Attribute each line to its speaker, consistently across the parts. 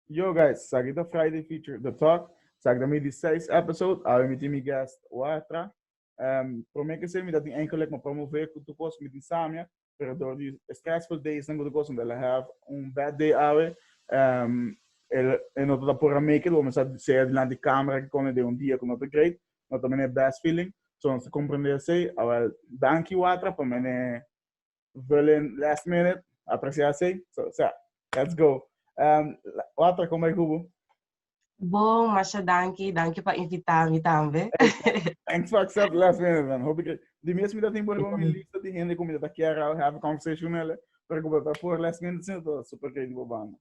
Speaker 1: Yo guys, esaki ta Friday feature the talk, esaki ta mi di seis episode, awe mi tin mi guest Wartra, prome kese mi ta tin enkel lek mo promove ku tur kos mi tin samia, pero dor di e stressful days nan ku tur kos mi tabata have un bad day awe, e no tabata por a make it, bo mi sa sea dilanti camera kikon den un dia ku no ta great, no ta mene best feeling, so nos ta comprende esei, awel danki Wartra pa mene Berlin last minute, apreciatie. So, so, let's go. Um, water, kom bij Kubo. Bom, masha danki, danki pa invita mi tambe. Thanks for accept last minute, man. Hoop ik, di mes mi dat in bori mi lista di hende kom mi dat kiara have a conversation ele, pero kom dat voor last minute sin dat super kei di bobana.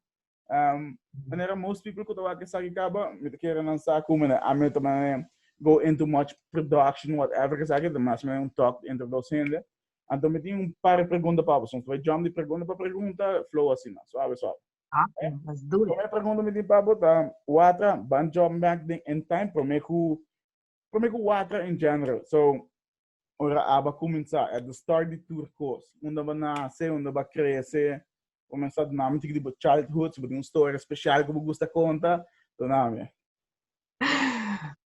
Speaker 1: Um, manera most people ku tawak esaki kaba, mi te kere lansa ku mene ami te mane go into much production, whatever esaki, te mas mene un talk entre dos hende. Anto mi tin un par pregunta pa bo, so we jump di pregunta pa pregunta, flow asina, suave suave. Okay, let's do it. Prome pregunta mi tin pa bo ta, watra ban job back den in time, prome ku, prome ku watra in general. So, Ora aba cuminsa, at the start di tur cos, unda bo nace, unda bo a crece, bo mensa duna mi tiki di bo childhood, si bo tin un story special cu bo gusta conta, duna mi.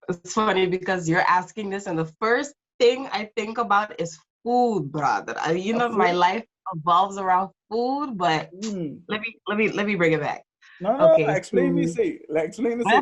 Speaker 1: It's funny because you're asking this and the first thing I think about is food, brother. I mean, you know, my life revolves around food, but mm. let me let me let me bring it back. No, no, okay, no, explain so, me say. Like, explain me say.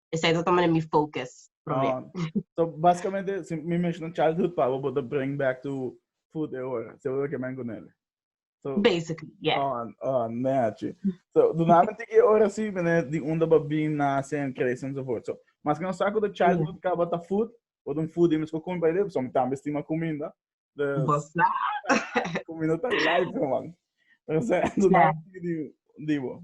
Speaker 1: Esei ta toma den mi focus promé. Ah, so básicamente, si mi mencionan childhood pa bo, bo te bring back to food e ora. Se ora que men con ele. So, Basically, yeah. Oh, oh, nee hachi. So, duname tiki e ora si, mene, di unda ba bin, nace, en crece, en so voort. So, mas que no saco de childhood ka ba ta food, o de un food imes ko kumi pa ele, so, mi tambe stima kuminda. De, Bossa. kuminda ta life, man. Pero se, duname tiki di, di bo.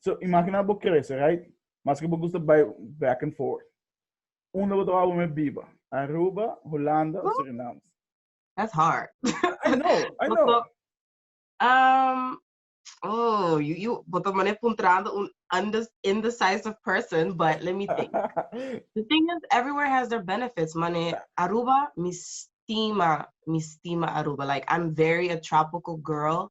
Speaker 1: So, imagina bo crece, right? Maske bo gusta bai back and forth. Unda bo trababa me biba? Aruba, Holanda o Suriname? That's hard. I know, I know. Boto, um, oh, you, you, boto mane puntrando un undes, indecisive person, but let me think. the thing is, everywhere has their benefits. Mane, Aruba, mistima, mistima Aruba. Like, I'm very a tropical girl.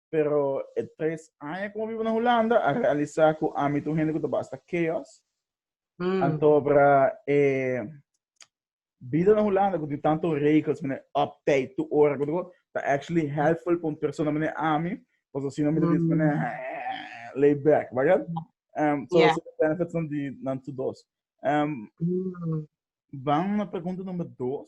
Speaker 1: Pero e tres aña ku mi a biba na Hulanda a realisá ku ami ta un hende ku ta basta keos. Mm. Antobra e bida na Hulanda ku tin tantu regels, mene optij, tu ora, ku tu ta actually helpful pa un persona mene ami, kos asina mi ta bisa mene eh, lay back, bagat? Um, so, Yeah. so the benefits nan di nan tu dos. Um, Mm. Vamos na pregunta número 2.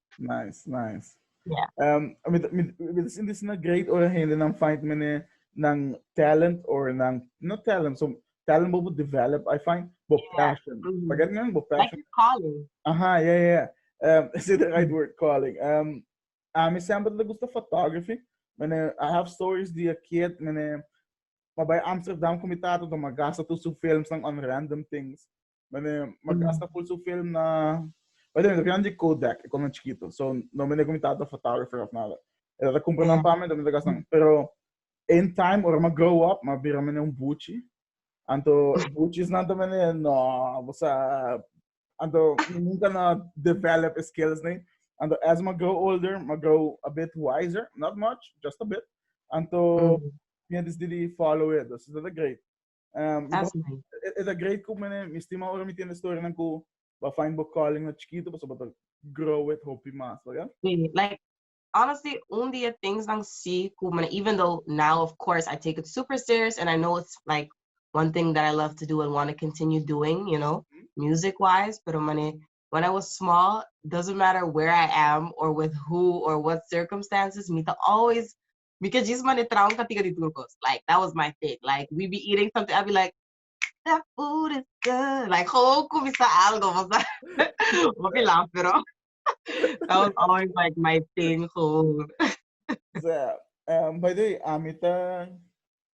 Speaker 1: Nice, nice. Yeah. Um, I mean, I mean, this is not great or hende nan find mene nan talent or nan not talent, so talent bobo develop, I find, bo yeah. passion. Mm-hmm. Pagkat nga, bo passion. Like calling. Aha, yeah, yeah. Um, is it the right mm-hmm. word, calling? Um, a mi sempre le gusta photography. Mene, I have stories di a kid, mene, maar bij Amsterdam kom je taten dan maar gasten tussen films en on random things. Mene, ma mm. gasta full su film na... By the way, dan di Kodak, ik kon chiquito. So, no mene kom tata photographer of nada. E dat compra yeah. pa me, dan mene gasta. Pero, in time, ora ma grow up, ma bira mene un buchi. Anto, buchi is nanta mene, no, bosa... Anto, nunca na develop skills, nee. Anto, as ma grow older, ma grow a bit wiser. Not much, just a bit. Anto, mm. -hmm. yeah, this did follow it. This is the great. Um, That's nice. It's a great coup, man. Mi stima ora mi tiene story nan ku ba find bo calling na chiquito, paso bata grow it hopi mas, baga? Yeah, like, honestly, un dia things nan si ku, man, even though now, of course, I take it super serious and I know it's like one thing that I love to do and want to continue doing, you know, mm -hmm. music-wise, pero mane, when I was small, doesn't matter where I am or with who or what circumstances, me to always Mi ke djis mane traon ka tika di tur kos. Like, that was my thing. Like, we be eating something, I'll be like, that food is good. Like, gewoon kumisa algo, bo sa. Hopi laf, pero that was always like my thing, gewoon. Sa, eh, by the way, ami ta,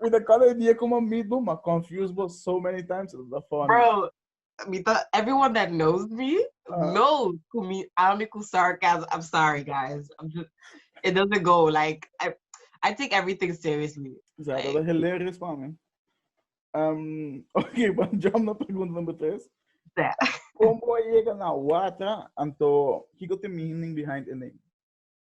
Speaker 1: Mi ta kala e dia ku mi meet bo, ma confuse bo so many times, e ta funny. Bro, mi ta, everyone that knows me, Ah. knows ku mi ami ku sarcasm. I'm sorry, guys. I'm just, it doesn't go. Like, I, I take everything seriously. Ja, dat Like, is hilarious pa mi. Um, ok, pa jump na pregunta number tres. yeah. Como a llega na Watra, anto, kiko te meaning behind e name?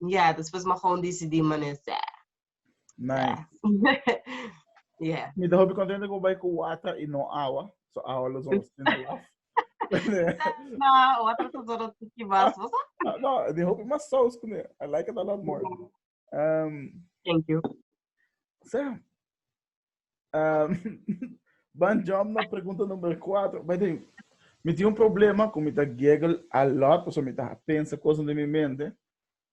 Speaker 1: Yeah, después me gewoon decidí mané sè. Nice. yeah. Mi ta hopi contento con bai con water y no agua. So agua lo son sin laf. no, water to solo tiki mas. Ah, no, mi hopi mas sauce con I like it a lot more. Um, Thank you. So, Ban jump na pregunta numero 4. Ba tem, mi tem un problema ku mi ta giggle a lot, paso mi ta pensa kosa den mi mente.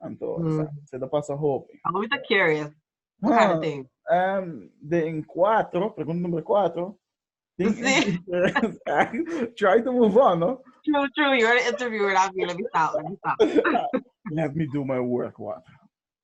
Speaker 1: Anto, mm. sa, se ta pasa hopi. Ako mi ta curious. Huh. Um, ehm, den 4, pregunta numero 4. Sí. Try to move on, no? True, true. You're an interviewer. I'll be let me stop. Let me stop. Let me do my work, what?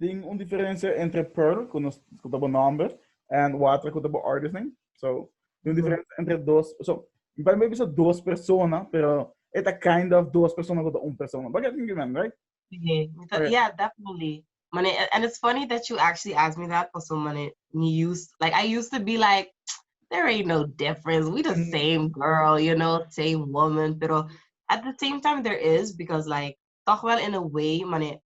Speaker 1: Tin un diferensia entre Pearl, ku nos ku ta bo nòmber, en Watra ku ta bo Artisan. So, tin un diferensia entre dos, so, mi pa mi bisa dos persona, pero e ta kind of dos persona ku ta un persona. Bagay tin given, right? Yeah, mi ta, Okay. yeah, definitely. Mane, a- and it's funny that you actually asked me that, paso mane, me used, like, I used to be like, there ain't no difference. We the Mm. same girl, you know, same woman. Pero at the same time, there is, because, like, toch wel in a way, mane,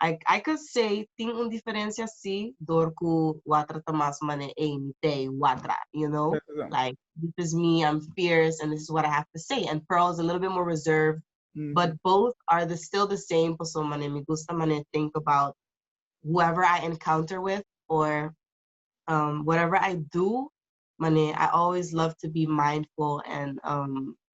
Speaker 1: I I can say tin un diferensia si dor ku Watra ta mas man'e ei mi tei Watra you know Kèt asan. like this is me I'm fierce and this is what I have to say and Pearl is a little bit more reserved Mhm. but both are the still the same paso man'e mi gusta man'e think about whoever I encounter with or um whatever I do man'e I always love to be mindful and um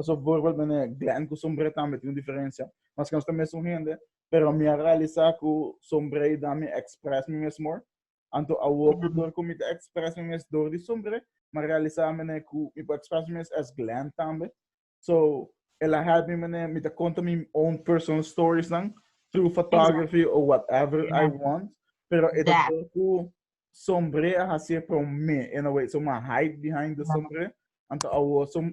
Speaker 1: Pasobra voorbeeld mene Glenn ku Sombré tambe tin un diferensia, maske nos ta mesun hende, pero mi a realisá ku Sombré i dal mi eksprès mi mes mor. Anto awor ku dor ku mi ta eksprès mi mes dor di Sombré, mi a realisá mene ku mi por eksprès mi mes as Glenn tambe. So, el a hèlp mi mene mi ta konta mi own personal storiesnan through photography o whatever I want, pero e ta dor ku Sombré a hasié promé in a way. So, mi a hide behind di Sombré, anto awor som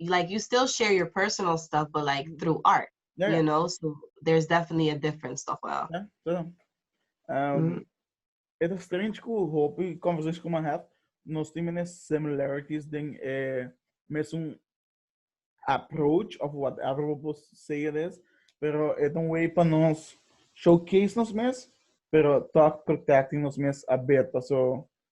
Speaker 1: like you still share your personal stuff but like through art yeah. you know so there's definitely a difference toch wel yeah, so, um, mm. it is strange ku hopi conversation ku man have nos tiene similarities ding eh mesum approach of whatever we say it is pero it don't way pa nos showcase nos mes pero talk protecting nos mes a beta so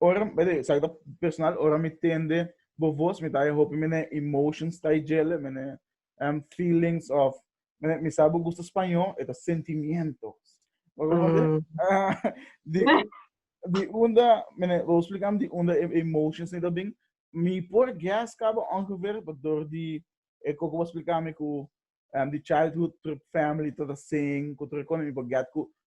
Speaker 1: ora sa ta personal ora mi tende bo voz mi ta hopi mene emotions ta djele mene um feelings of mene mi sa bo gusta spaño e ta sentimientos mm. di, di unda mene lo explicam di unda e emotions ni ta bin mi por gas cabo ongeveer door di e coco was explicame cu um, di childhood trip family to the sing cu trip mi por get cu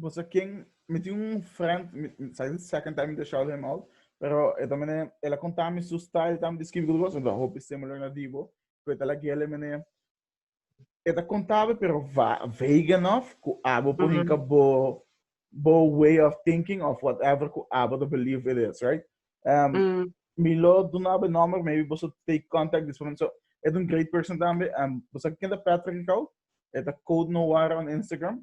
Speaker 1: Pues a ken mi tin un friend, sa is second time to shout him out, pero e ta mene e la konta mi su style tam di skribi tur kos, ta hopi similar na Divo, ku e ta la gele mene e ta kontabe pero vague enough ku abo por hinka bo bo way of thinking of whatever ku abo ta believe it is, right? Um, mm. Mi lo dunabe number, maybe boso take contact this one. So, e un great person tambe. Um, bosa kenda Patrick Kau, e ta code no war on Instagram.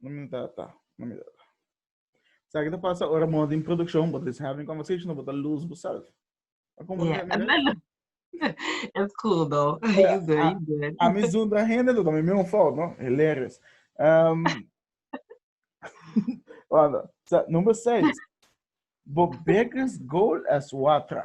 Speaker 1: No mi ta ta. No mi ta ta. Sa ki ta pasa ora mo din produksjon, bo ta disha di konversashon, bo ta luz boself. A como yeah. que me mira? Es cool though. You good, you good. A mi zoom tra hende, tu también me un fout, no? Hilarious. Um, Wanda, sa, number 6. Bo biggest goal as watra.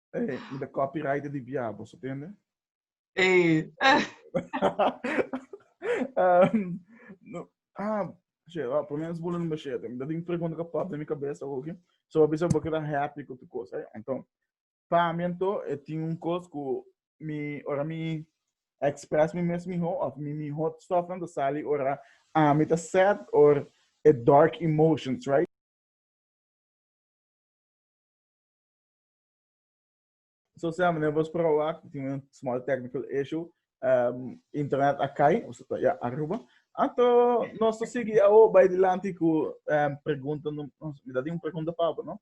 Speaker 1: Ey, mi ta copywriter di bia, boso tende? Ey. um, no, ah, che, ah, por menos bola number 7. Mi ta ding pregunta ka pop na mi cabeza hoje. So, bisa bo keda happy ku tu cosa. Eh? Então, pa mi ento, e tin un cos ku mi, ora mi express mi mes miho, of mi mi hot stuff nan ta sali ora ah, mi ta sad or e dark emotions, right? So sea mene vos proba cu tin un small technical issue. Um, internet a cai, o sea, ya Aruba. Anto nos to sigui ao bai dilanti cu um, pregunta, no, me da un pregunta pabo, no?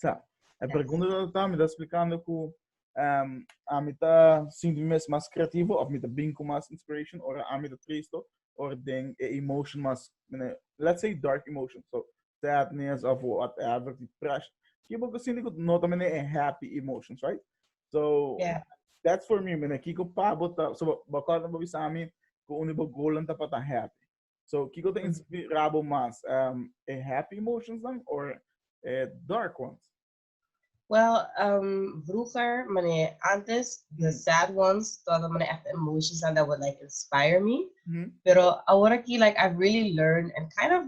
Speaker 1: Sa, a pregunta da ta me da explicando cu um, a mi ta sinti mes mas creativo, of mi ta bin cu mas inspiration, or a mi ta tristo, or den e emotion mas, mene, let's say dark emotion. So, sadness of whatever depression ki bo ku sinti ku no ta mene e happy emotions right so yeah. that's for me mene kiko pa bo ta so bo kort bo bisa mi ku uni bo golan ta pa ta happy so kiko ta inspira bo mas um, e happy emotions dan or e dark ones Well, um, vroeger, meneer, antes, the mm. sad ones, toda meneer echt emotions and that would like inspire me. Mm -hmm. Pero ahora aquí, like, I've really learned and kind of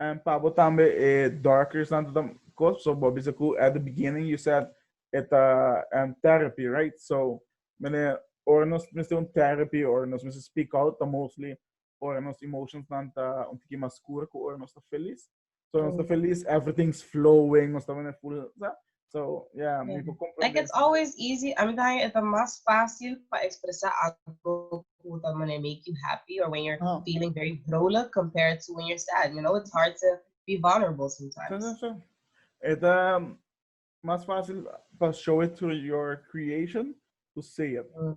Speaker 1: And pa bo tambe e darkers nan ta cos so bo bisa cu at the beginning you said e ta and therapy right so mene ora nos mester un therapy or nos mester speak out ta mostly ora nos emotions nan ta un tiki mas scuro cu ora nos ta feliz so nos ta feliz everything's flowing nos ta mene full sa So, yeah, mi por comprende. Like it's always easy. A mi ta haña eta mas fácil pa expresa algo cu tal manera make you happy or when you're oh. feeling very vrolijk compared to when you're sad. You know, it's hard to be vulnerable sometimes. So, so, so. Eta mas fácil pa show it through your creation to say it. Mm.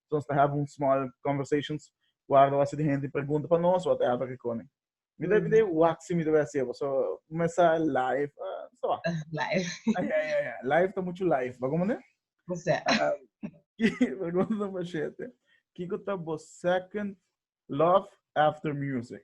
Speaker 1: So nos ta have un small conversations where ta wase di hende pregunta pa nos wak ta hapun rikoni. Mi ta pidi wak si mi ta bai hasi e bo. So mesa live ta wak. Live. Ya ya ya ya. Live ta muchu live. Ba como ne? Bosé. Pregunta number shete. Kiko ta bo second love after music?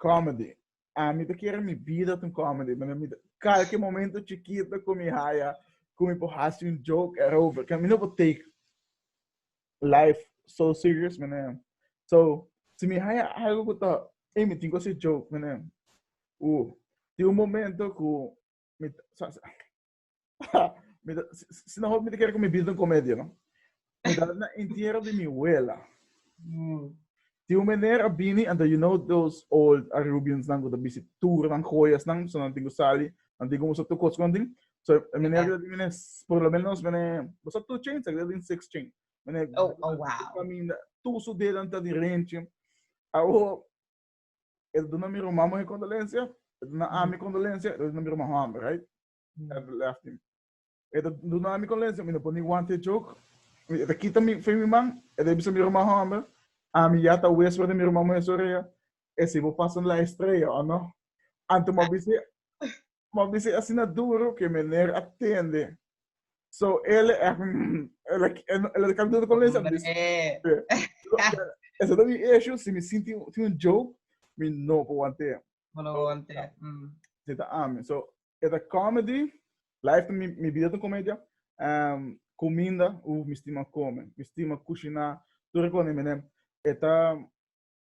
Speaker 1: Comedy. Ah, mi ta kere mi bida ta un comedy, mane mi ta, kalke momento chikito ku mi haya, ku mi por hasi un joke erover, mi no por take life so serious, mane. So, si mi haya algu ku ta, ey, mi tin ku hasi joke, mane, uh, tin un momento ku mi ta, sa, sa. si no me quiere que mi vida comedia, ¿no? Me da na entierro de mi abuela. Mm. Ti un meneer a bini, and you know those old Arubians nan go da bisi tour nan joyas nan, so nan tingo sali, nan tingo musa tu kos kon ting. So e meneer yeah. bini, por lo menos meneer, bosa two chains, ik din six chain. Meneer, oh, oh wow. Caminda, tu su dedan ta di renche. Awo, E ta duna mi ruman muhe kondolensia, e ta duna ami kondolensia, e ta duna mi ruman hòmber, right? At the left him. E ta duna ami kondolensia, mi no por ni wanta e jok. Mi- E ta kita mi fe mi man, e ta bisa mi ruman hòmber, ami ya ta whisper den mi ruman muhe su orea, esei bo pasa la estrella, o no? Anto mi a bisa, Mò mi si asina duru ke mener a tende so el el a di kalundu kon lesa mi esa ta mi issue si mi sinti tin un joke mi no por want'e si ta ami so e ta comedy life ta mi mi bida ta un comedia cuminda uh mi stima come mi stima cushina tur e cosa mi menem e ta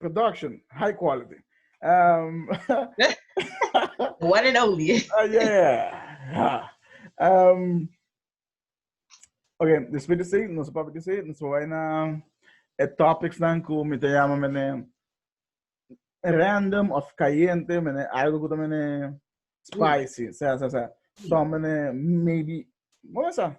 Speaker 1: production high quality. Um, One and only. uh, yeah. Um, okay, después de sí, nos papá de sí, nos vai na e topics dan ku mi te llama mene random of cayente, mene algo ku ta mene spicy, sa sa sa. So mene maybe, vamos a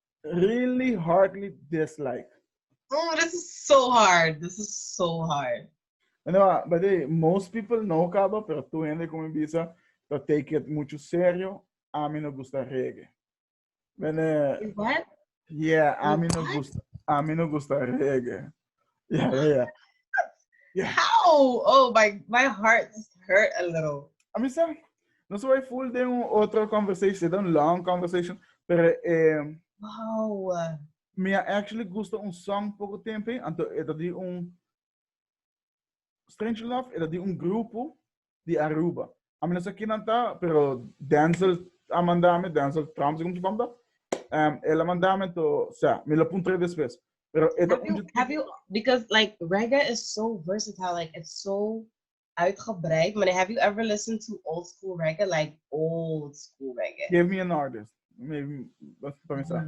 Speaker 1: Really hardly dislike. Mm, this is so hard. This is so hard. No, ah, but hey, most people no caba, pero tu hende como bisa, to take it mucho serio. A mí no gusta reggae. Bene, What? yeah, a mí no What? gusta, a mí no gusta reggae. How? Oh, my, my heart just hurt a little. A mí sabe, no se vai full de un otro conversation, de un long conversation, pero eh, Wow. me actually gusta un song poco tempo, anto era di un Strange Love, era di un grupo, di Aruba. Ami no sa kinan ta, pero Denzel a manda mi, Denzel Trump si como su nombre ta, em, el a manda mi to, sa, mi lo puntra después. Pero e ta Have un you, YouTube. have you, because like reggae is so versatile, like it's so uitgebreid. Meneer, have you ever listened to old school reggae? Like old school reggae. Give me an artist. Maybe, dat is para mí sa.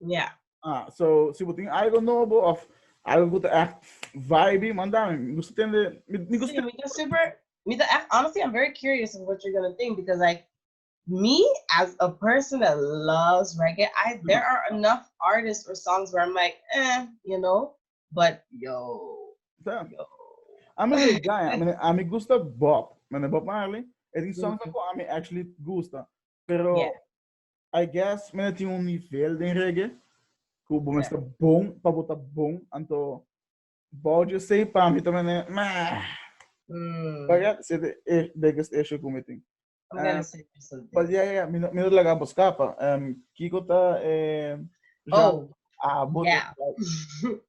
Speaker 1: Ya. Yeah. Ah, so si bo tin algo nobo of algo ku ta echt vibe, manda mi. Mi gusta tende, mi, mi gusta. Mi ta super, mi ta echt, honestly, I'm very curious of what you're gonna think because like me as a person that loves reggae, I mm-hmm. there are enough artists or songs where I'm like, eh, you know, but yo, yeah. yo. I mean, like, guy, I mean, I mean, gusta Bob, man, Bob Marley. I think songs mm-hmm. like I mean actually gusta, pero yeah. I guess men a tin un nivel den reggae ku bo mester bon pa bo ta bon anto bou di sei pa mi tamen e mm. Paga se de e biggest issue ku mi tin. Well, um, say something. But yeah, yeah, mi no, mi no laga bo skapa. Um, Kiko ta eh, oh, ah, bo yeah.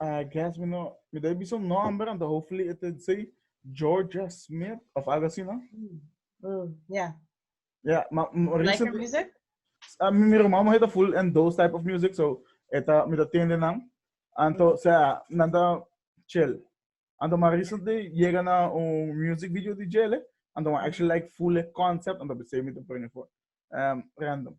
Speaker 1: I guess me no, me debe be some number and hopefully it would say Georgia Smith of algo así, ¿no? Mm. Mm. Yeah. Yeah, ma, ma like her music? Uh, mi, mi hermano heet full in those type of music, so eta me da tende nan. Anto, mm. sea, nan da chill. Anto, ma recently llega na un music video di Jelle, anto, ma actually like full concept, anto, besei me te brengen voor. Um, random.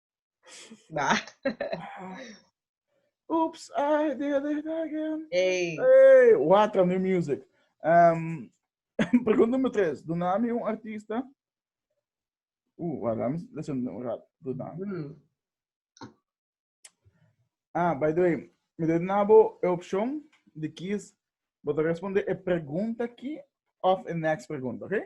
Speaker 1: Ba. Oops, I did it again. Hey. Hey, water new music. Um, pregunta nummer tres. Dona mi un artista. Uh, wacht, laat me listen een raad. Dona. Hmm. Ah, by the way, me deed nabo e option de kies. Bota responde e pregunta ki of e next pregunta, oké?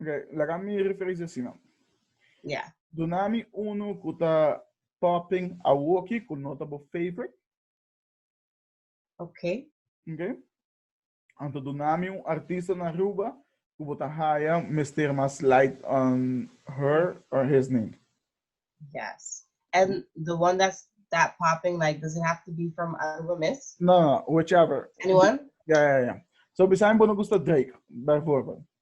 Speaker 1: Ok, laga mi referencia así no. Ya. Yeah. Dunami uno cu ta topping a woki cu no ta bo favorite. Ok. Ok. Anto dunami un artista na Aruba cu bo ta haya mester mas light on her or his name. Yes. And the one that's that popping, like, does it have to be from Aruba Miss? No, no, whichever. Anyone? Yeah, yeah, yeah. So, beside bono gusta Drake, bijvoorbeeld.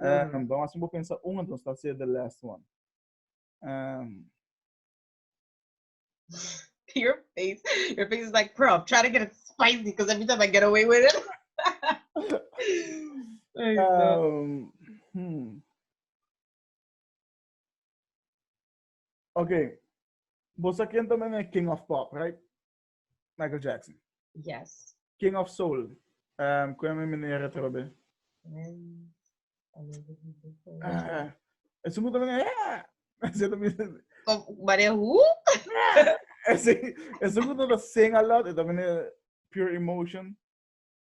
Speaker 1: Um, Vamos assim, vou pensar um, então está ser the last one. Um, your face, your face is like, bro, I'm trying to get it spicy because every time I get away with it. um, hmm. Okay. Você quem também é King of Pop, right? Michael Jackson. Yes. King of Soul. Um, cu mi meneer het robe. Mm. Ah, es un motor. Ah, se te mira. Mare who? Es es un motor sing a lot. Es también pure emotion.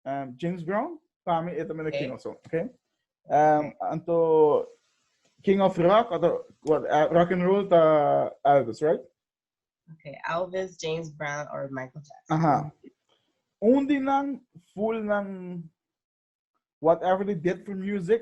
Speaker 1: Um, James Brown, para mí, él también es King of Soul, ok? Um, anto, King of Rock, anto, what, uh, rock and roll, ta Elvis, right? Okay, Elvis, James Brown, or Michael Jackson. Aha. Undi nan full nan whatever they did for music,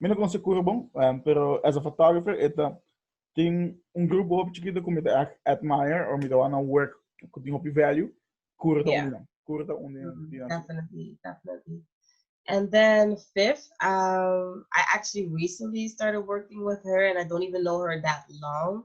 Speaker 1: Mi no conoce Curo bon, um, pero as a photographer, eta tin un grupo hopi chiquito que mi te echt admire, or mi te wanna work que tin hopi value, Curo ta yeah. uno. Curo ta uno. Mm, definitely, definitely. And then fifth, um, I actually recently started working with her, and I don't even know her that long.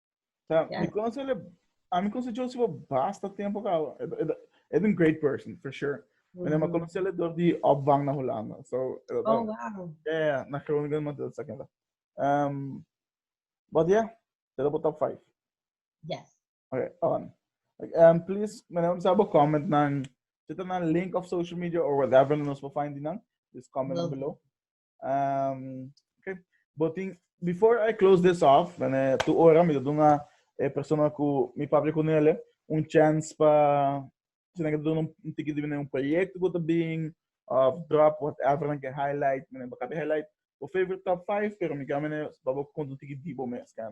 Speaker 1: Tá, yeah. mi consi ele, a mi consi Josie por basta tempo ka, é um great person, for sure. Mm. Mas eu conheci ele door de opvang na Holanda. So, oh, wow. Yeah, na Groningen, maar dat is ook Um, but yeah, dat op top 5. Yes. Okay, on. Um, please, meneer, ons hebben comment naar, zit er naar link of social media or whatever, en ons wil find die naam. Just comment down below. Um, okay. Botin, before I close this off, bene, tu ora mi dodo na e persona ku mi papia ku nele un chance pa si na dodo un tiki di un proyekto ku ta bin of drop whatever na ke highlight, bene, baka highlight o favorite top 5, pero mi ka mene babo konto tiki di bo mes kan.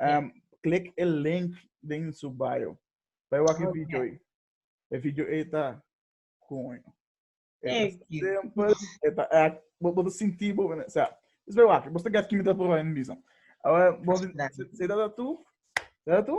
Speaker 1: Um, klik e link den su bio. Bai wak e video ei. E video ei ta koño. E ta simpel, e ta act, bo bo sinti bo, o sea, is bai wak, bo sta gat kimi ta prova en bisa. Awa, bo se ta tu, se ta tu?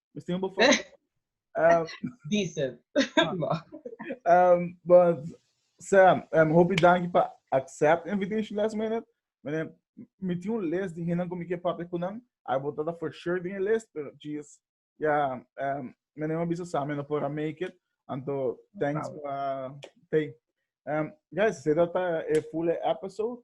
Speaker 1: Nos tin bo foto. Um, Diesel. um, but Sam, um, hopi danki pa accept invitation last minute. Meneer, mi tin un list di hinan kom ik papia kunan. I bo tata for sure di een list, pero jeez, ja, um, meneer ma bisa Sam, no pora make it. Anto, thanks pa, hey. Um, guys, se dat e full episode.